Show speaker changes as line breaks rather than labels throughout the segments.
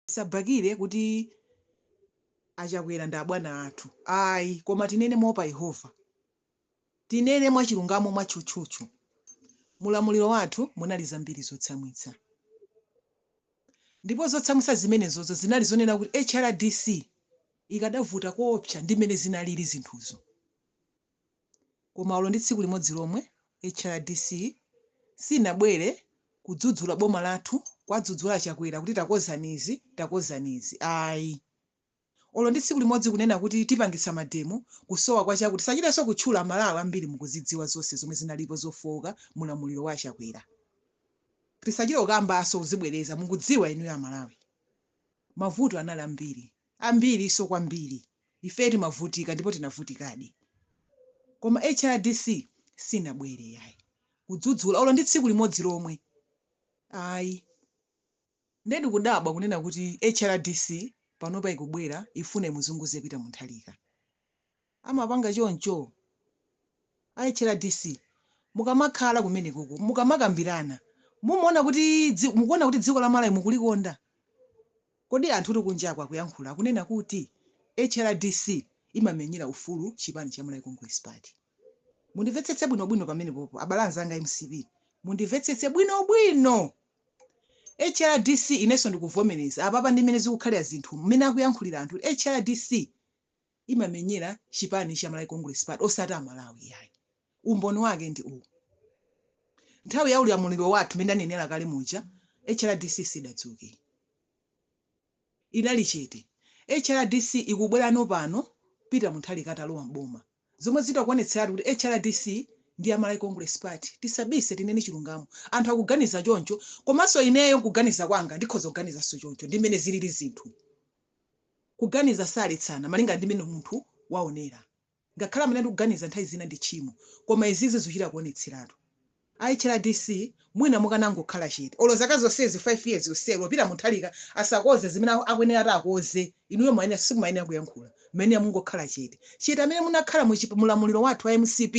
tisabakile kuti a chakwera ndi abwana athu ayi koma tinene moopa yehova tinene mwachilungamo mwatchutchutchu mulamuliro wathu munali zambiri zotsamwitsa ndipo zotsamwitsa zimenezozo zinali zonena kuti hrdc ikadavuta koopsa ndi mmene zinalili zinthuzo Koma olo ndi tsiku limodzi lomwe HRDC sinabwere kudzudzula boma lathu kwadzudzula a Chakwera kuti takozani izi takozani izi ayi. Olo ndi tsiku limodzi kunena kuti tipangitsa mademo kusowa kwa chakuti sitichitenso kutchula a Malawi ambiri mukuzidziwa zonse zomwe zinalipo zofooka mu ulamuliro wa a Chakwera. Tisachite kukambanso kuzibwereza mukudziwa inuyo a Malawi. Mavuto anali ambiri. ambiriso kwambiri ifeyo timavutika ndipo tinavutikadi koma hrdc sinabwere yayi kudzudzula olo ndi tsiku limodzi lomwe ayi nde ndikudabwa kunena kuti hrdc panopa ikubwera ifuna imuzunguze Peter Mutharika amapanga choncho a hrdc mukamakhala kumenekoko mukamakambilana mumaona kuti dzi mukuona kuti dziko la malawi mukulikonda kodi anthutu kunjaku akuyankhula akunena kuti hrdc imamenyera ufulu chipani cha malawi congress party mundimvetsetse bwino bwino pamenepopo abale anzanga a mcp mundimvetsetse bwino bwino hrdc inenso ndikuvomereza apapa ndi mmene zikukhalira zinthu mmene akuyankhulira anthu hrdc imamenyera chipani cha Malawi Congress Party osati a Malawi iyayi. Umboni wake ndi uwu. Nthawi ya ulamuliro wathu mmene ndanenera kale muja HRDC sidadziwike. Idali chete. HRDC ikubwerano pano Peter Mutharika atalowa m'boma. Zomwe zikuonetseratu kuti HRDC ndi ya Malawi Congress Party. Tisabise tinene chilungamo. Anthu akuganiza choncho komanso ineyo nkuganiza kwanga ndikhoza kuganizanso choncho ndi mmene zilili zinthu. Kuganiza saletsana malingana ndi mene munthu waonera. Ngakhale amanena kuganiza nthawi zina ndi tchimo koma izizi zuchita kuonetseratu. A HRDC mwina mukanangokhala chete olo zaka zonsezi 5 years yonseyi olo Peter Mutharika asakoze zimene akuyenera ati akoze inuyo mwayenera simumayenera kuyankhula muyenera mungokhala chete. Chete amene munakhala mu chi mulamuliro wathu wa mcp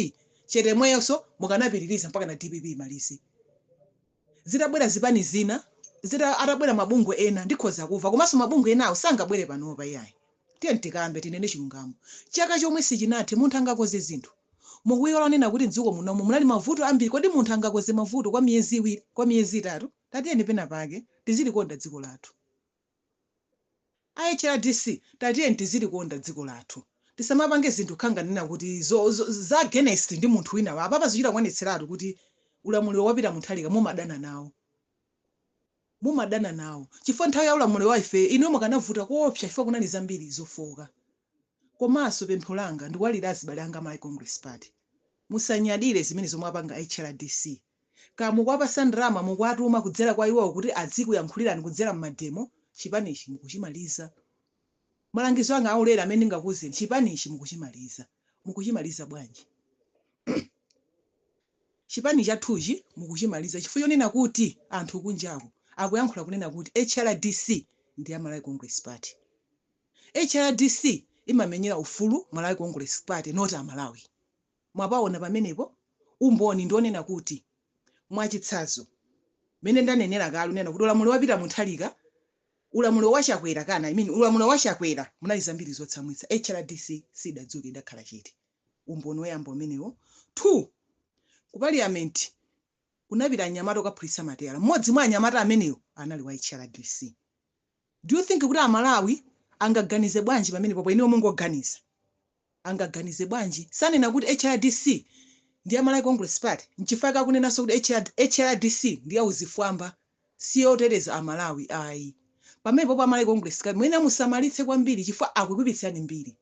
chete yemweyonso mukanapitiriza mpakana dpp imalize. zitabwera zipani zina, zita, atabwera mabungwe ena ndikhoza kumva komanso mabungwe enawo sangabwere panopa iyayi. Tiyeni tikambe, tinene chilungamo. Chaka chomwe sichinathe, munthu angakonze zinthu. Mukuiwala kunena kuti m'dziko munomu munali mavuto ambiri, kodi munthu angakonze mavuto kwa miyezi iwiri, kwa miyezi itatu? Tatiyeni pena pake tizilikonda dziko lathu. A hrdc tatiyeni tizilikonda dziko lathu tisamapange zinthu kukhala ngati kunena kuti zo zo za against ndi munthu winawake apapa zikuchita kuonetseratu kuti ulamuliro wa Peter Mutharika mumadana nawo mumadana nawo chifukwa nthawi ya ulamuliro wa ife inuyo munkavuta koopsa chifukwa kunali zambiri zofooka komanso pempho langa ndikuwalira azibale anga a Malawi Congress Party musanyadire zimene zomwe apanga a hrdc Kaya mukuwapasa ndalama, mukuwatuma kudzera kwa iwowo kuti adzikuyankhulirani kudzera mmademo, chipanichi mukuchimaliza. Malangizo anga aulere amene ndingakuuzeni, chipanichi mukuchimaliza. Mukuchimaliza bwanji? Chipani chathuchi mukuchimaliza chifukwa chonena kuti anthu kunjaku akuyankhula kunena kuti HRDC ndi ya Malawi Congress Party. HRDC imamenyera ufulu Malawi Congress Party not Amalawi. Mwapawona pamenepo umboni ndi onena kuti, mwachitsanzo, mene ndanenela kale unena kuti ulamulilo wa Peter Mutharika, ulamulilo wa Chakwera kana I mean ulamulilo wa Chakwera munali zambiri zotsamwitsa, HRDC sidadzuke idakhala chete. Umboni oyamba umenewo. Two, ku parliament kunapita anyamata okaphulitsa mateyala mmodzi mwa anyamata amenewo anali wa hrdc do you think kuti amalawi angaganize bwanji pamenepopo inuyo mungoganiza angaganize bwanji sanena kuti hrdc ndi ya malawi congress party nchifukwa chake akunenanso kuti HR hrdc ndi yauchifwamba si yoteteza amalawi ayi pamenepopo amalawi congress party muyenera musamalitse kwambiri chifukwa akukuipitsirani mbiri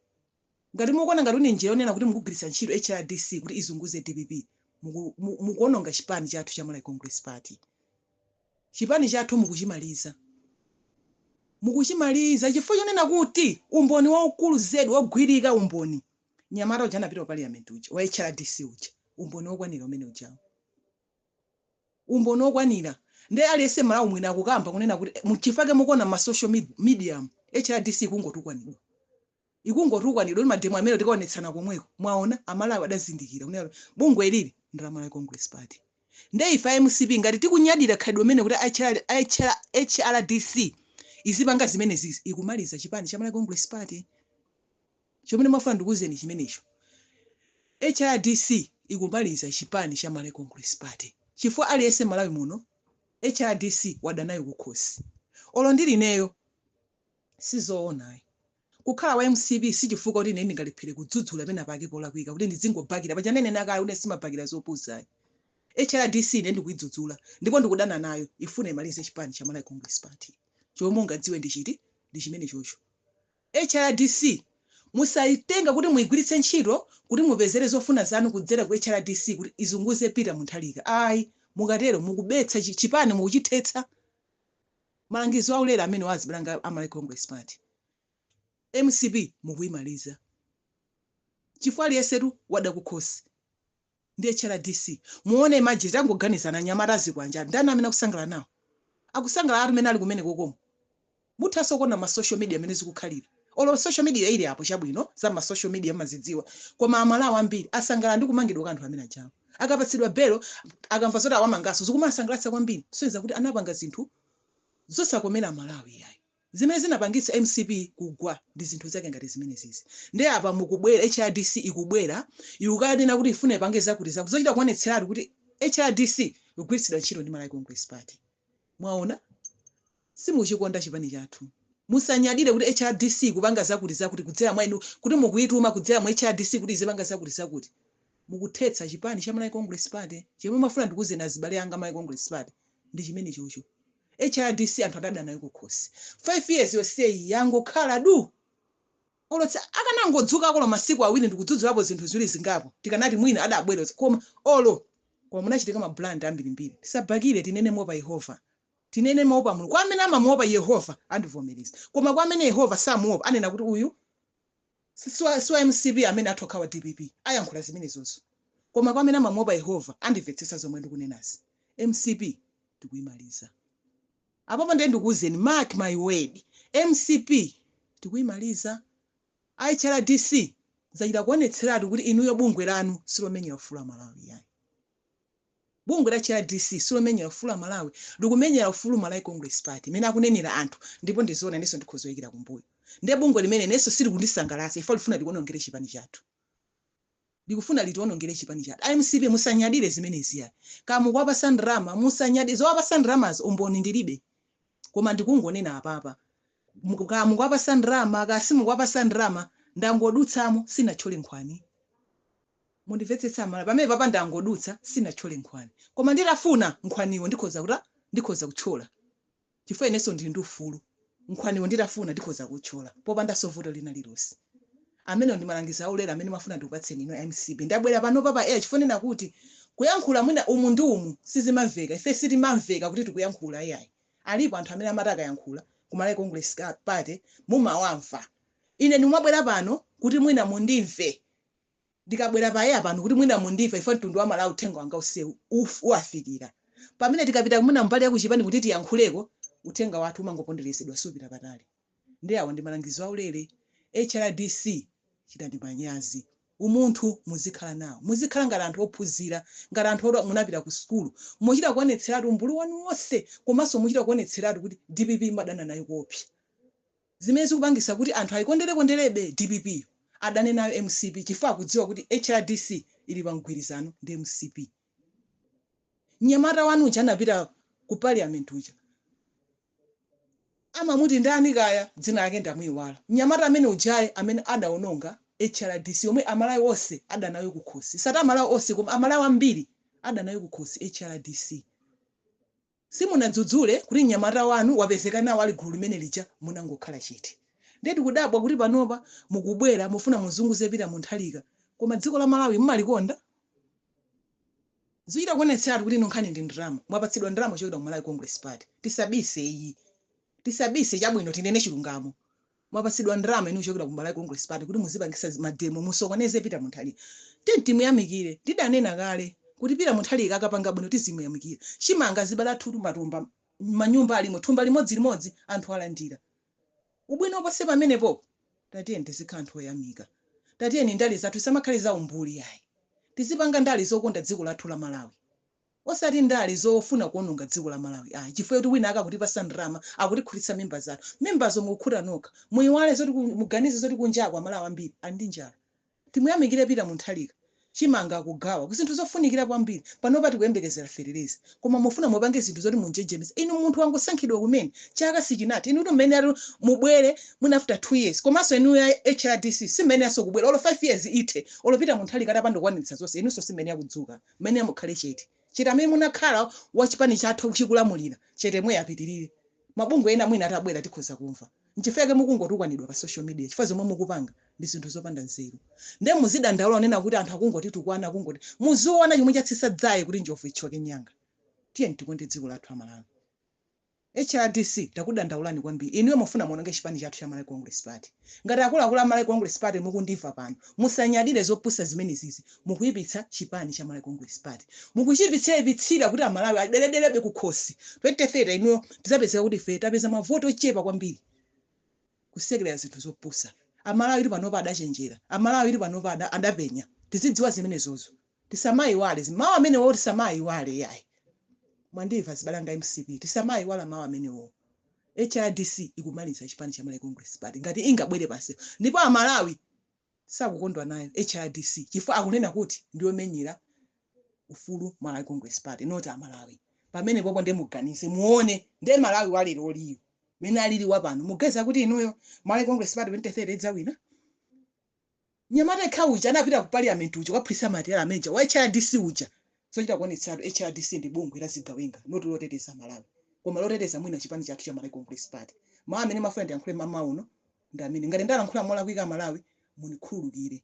Ngati mukuona ngati ndi njira yonena kuti mukugwiritsa ntchito hrdc kuti izunguze dpp muku mukuononga chipani chathu cha Malawi Congress Party. Chipani chathu mukuchimaliza. Mukuchimaliza chifukwa chonena kuti umboni waukulu zedi wogwirika umboni mnyamata uja anapita ku parliament uja wa hrdc uja umboni wokwanira umene ujawu. Umboni wokwanira nde aliyense Malawi muno akukamba kunena kuti mchifukwa chake mukuona mma social mediamu hrdc ikungotukwanidwa. ikungotukwanidwa kuti mademo amenewo tikaonetsana komweko mwaona amalawi adazindikira kunena kuti bungwe ilili ndi la malawi congress party nde ife a mcp ngati tikunyadira khalidwe limene kuti hrdc izipanga zimenezizi ikumaliza chipani cha malawi congress party chomene ndafuna ndikuuzeni chimenecho hrdc ikumaliza chipani cha malawi congress party chifukwa aliyense malawi muno hrdc wadanayo kukhosi olo ndili ineyo Sizoona ayi. Kukhala wa mcp sichifukwa kuti ine ndingalephele kudzudzula penapake polakwika kuti ndidzingobakila paja ndanena kale kuti ine simabakila zopusa ayi. Hrdc ine ndikuidzudzula ndipo ndikudana nayo ifuna imalize chipani cha Malawi Congress Party. Chomwe mungadziwe ndi chiti? Ndi chimenechocho. Hrdc musaitenge kuti muigwilitse ntchito kuti mupezele zofuna zanu kudzela ku hrdc kuti izunguze Peter Mutharika ayi. Mukatelo mukubetsa chipani mukuchithetsa. Malangizo aulere amenewa azibale anga a Malawi Congress Party, mcp mukuyimaliza chifukwa aliyensetu wada kukhosi ndi hrdc. Muone imagine, tangoganizani anyamata azikwanje ali ndani amene akusangalala nawo? Akusangalalatu mene ali kumenekokomo. Muthanso kuona ma social media mene zikukhalira. Olo social media ili apo chabwino za ma social media mumazidziwa koma a Malawi ambiri asangalala ndi kumangidwa kwa anthu amene ajawo. Akapatsidwa belo akamva zoti awamangaso zikumawasangalatsa kwambiri kusonyeza kuti anapanga zinthu zosakomera a Malawi iyayi. Zimene zinapangitsa mcp kugwa ndi zinthu zake ngati zimenezizi nde apa mukubwera hrdc ikubwera ikukanena kuti ikufuna ipange zakuti zakuti zochita kuonetseratu kuti hrdc ikugwiritsidwa ntchito ndi Malawi Congress Party. Mwaona? simuchikonda chipani chathu musanyadire kuti hrdc ikupanga zakuti zakuti kudzera mwa inu kuti mukuyituma kudzera mu hrdc kuti izipanga zakuti zakuti mukuthetsa chipani cha Malawi Congress Party chomwe mmafuna ndikuuzeni azibale anga Malawi Congress Party ndi chimenechocho hrdc anthu adada nayo kukhosi 5 years yonseyi yangokhala du olo tsa- akanangodzukako olo masiku awiri ndikudzudzulapo zinthu ziwiri zingapo tikanati mwina adabwera koma olo koma munachitika mabulandi ambirimbiri tisabhakire tinene moopa yehova Tinene moopa Mulungu. Kwa amene amamuopa Yehova andivomereza. Koma kwa amene Yehova samuopa anena kuti uyu siwa siwa mcp ameneyu atha kukhala wa dpp ayankhula zimenezozo koma kwa amene amamuopa Yehova andimvetsetsa zomwe ndikunenazi. Mcp tikuimaliza. Apapa ndiye ndikuuzeni mark my word mcp tikuimaliza. A HRDC zachita kuonetseratu kuti inuyo bungwe lanu silomenyera ufulu a Malawi ayi. Bungwe la HRDC silomenyera ufulu a Malawi likumenyera ufulu Malawi Congress Party mmene akunenera anthu ndipo ndi zoona inenso ndikhoza kuyikira kumbuyo nde bungwe limeneli inenso silikundisangalatsa chifukwa likufuna litionongere chipani chathu likufuna litionongere chipani chathu a mcp musanyadire zimenezi ai kaya mukuwapasa ndalama musanyadire zowapasa ndalamazo umboni ndilibe koma ndikungonena apapa muku, kaya mukuwapasa ndalama kaya simukuwapasa ndalama ndangodutsamo sinatchole nkhwani mundimvetsetse a Malawi pamenepapa ndangodutsa sinatchole nkhwani koma nditafuna nkhwaniwo ndikhoza kuta ndikhoza kutchola chifukwa inenso ndili ndi ufulu nkhwaniwo nditafuna ndikhoza kutchola popandanso vuto lina lilonse amenewo ndi malangizo aulere amene mmafuna ndikupatseni inu a mcp ndabwera pano pa air chifukwa chonena kuti kuyankhula mwina umu ndi umu sizimamveka ife sitimamveka kuti tikuyankhula iyayi Alipo anthu amene amati akayankhula ku Malawi Congress Party mumawamva. Ine ndimabwera pano kuti mwina mundimve. Ndikubwera pa air pano kuti mwina mundimve chifukwa mtundu wa Malawi uthenga wanga onsewu uwafikira. Pamene tikapita mwina mbali ya kuchipani kuti tiyankhuleko, uthenga wathu umangoponderezedwa sumapita patali. Ndiye awo ndi malangizo aulere? Hrdc chitani manyazi. Umunthu muzikhala nawo. Muzikhala ngati anthu ophunzira, ngati anthu oti munapita ku sukulu. Muchita kuonetseratu umbuli wanu wonse komanso muchita kuonetseratu kuti dpp mumadana nayo koopsa. Zimene zikupangitsa kuti anthu ayikonderekonderebe dpp yo, adane nayo mcp chifukwa akudziwa kuti hrdc ili pa mgwirizano ndi mcp. Mnyamata wanu uja anapita ku parliament uja, amamuti ndani kaya dzina lake ndamuiwala mnyamata amene ujayi amene adaononga hrdc yomwe amalawi onse ada nayo kukhosi osati amalawi onse koma amalawi ambiri adana nayo kukhosi hrdc simunadzudzule kuti mnyamata wanu wapezeka nawo ali gulu limene lija munangokhala chete ndiye tikudabwa kuti panopa mukubwera mufuna muzunguze pita munthalika koma dziko la malawi mmalikonda Zikuchita kuonetseratu kuti inu nkhani ndi ndalama. Mwapatsidwa ndalama kuchokera ku Malawi Congress Party. Tisabise iyi. Tisabise, chabwino tinene chilungamo. Mwapatsidwa ndalama inu kuchokera ku Malawi Congress Party kuti muzipangisa ma demo musokoneze Peter Munthalika. Tiyeni timuyamikire. Tidanena kale kuti Peter Munthalika akapanga bwino tizimuyamikira. Chimanga azibala 2 matumba, manyumba alimo, thumba limodzi limodzi, anthu alandira. Ubwino uposa pamenepo? Tatiyeni tizikhala anthu oyamika. Tatiyeni ndale zathu zisamakhale za umbuli yayi. Tizipanga ndale zokonda dziko lathu la Malawi. Osati ndale zofuna kuononga dziko la Malawi ayi chifukwa choti wina ake akutipasa ndalama, akutikhutitsa mimba zathu. Mimbazo mukukhuta nokha. Muiwale zoti muganize zoti kunjaku a Malawi ambiri ali ndi njala. Timuyamikire Peter Munthalika, chimanga akugawa, zinthu zofunikira kwambiri. Panopa tikuyembekezera fetereza. Koma mufuna mupange zinthu zoti munjenjemetse. Inu munthu wangosankhidwa kumene, chaka sichinathe. Inutu mmayeneratu mubwere mwina after 2 years. Komanso inuyo a HRDC simmayeneranso kubwera. Olo 5 years ithe, olo Peter Munthalika atapanda kukwaniritsa zonse, inunso simmayenera kudzuka. Mmayenera mukhale chete. Chete amene munakhala a chipani chathu chikulamulira, chete yemweyo apitirire. mabungwe ena mwina atabwera tikhoza kumva. Nchifukwa chake mukungotukwanidwa pa social media chifukwa zomwe mukupanga ndi zinthu zopanda nzeru. Ndiye muzidandaula kunena kuti anthu akungotitukwana akungoti. Muziona chomwe chatsitsa dzaye kuti njovu ithyoke mnyanga. Tiyeni tikonde dziko lathu a Malawi. HRDC takudandaulani kwambiri. Inuyo mufuna muononge chipani chathu cha Malawi Congress Party. Ngati akuluakulu a Malawi Congress Party mukundimva pano, musanyadire zopusa zimenezizi, mukuipitsa chipani cha Malawi Congress Party. Mukuchiipitsiraipitsira kuti Amalawi aderedelebe kukhosi. 2030 inuyo tidzapezeka kuti ifeyo tapeza mavoti ochepa kwambiri. Kusekerera zinthu zopusa. Amalawitu panopa adachenjera. Amalawitu panopa adapenya. Tizidziwa zimenezozo. Tisamaiwale izi, mawu amenewo tisamaayiwale iyayi mwandimva azibale anga a mcp tisamaayiwale mawu amenewo hrdc ikumaliza chipani cha Malawi Congress Party ngati ingabwere pansewu ndipo a Malawi sakukondwa nayo hrdc chifukwa akunena kuti ndiyomenyera ufulu Malawi Congress Party not a Malawi pamenepopo nde muganize muone nde Malawi wa leroliyo mene alili wapano mukuganiza kuti inuyo Malawi Congress Party 2030 idzawina? Mnyamata yekha uja anapita ku Parliament uja kukaphulitsa matayala a major wa HRDC uja zochita kuonetseratu HRDC ndi bungwe la zigawenga not loteteza a Malawi koma loteteza mwina chipani chathu cha Malawi Congress Party. Mau amene ndimafuna ndiyankhule mamawa uno ndi amenewa. Ngati ndalankhula molakwika a Malawi munikhululukire.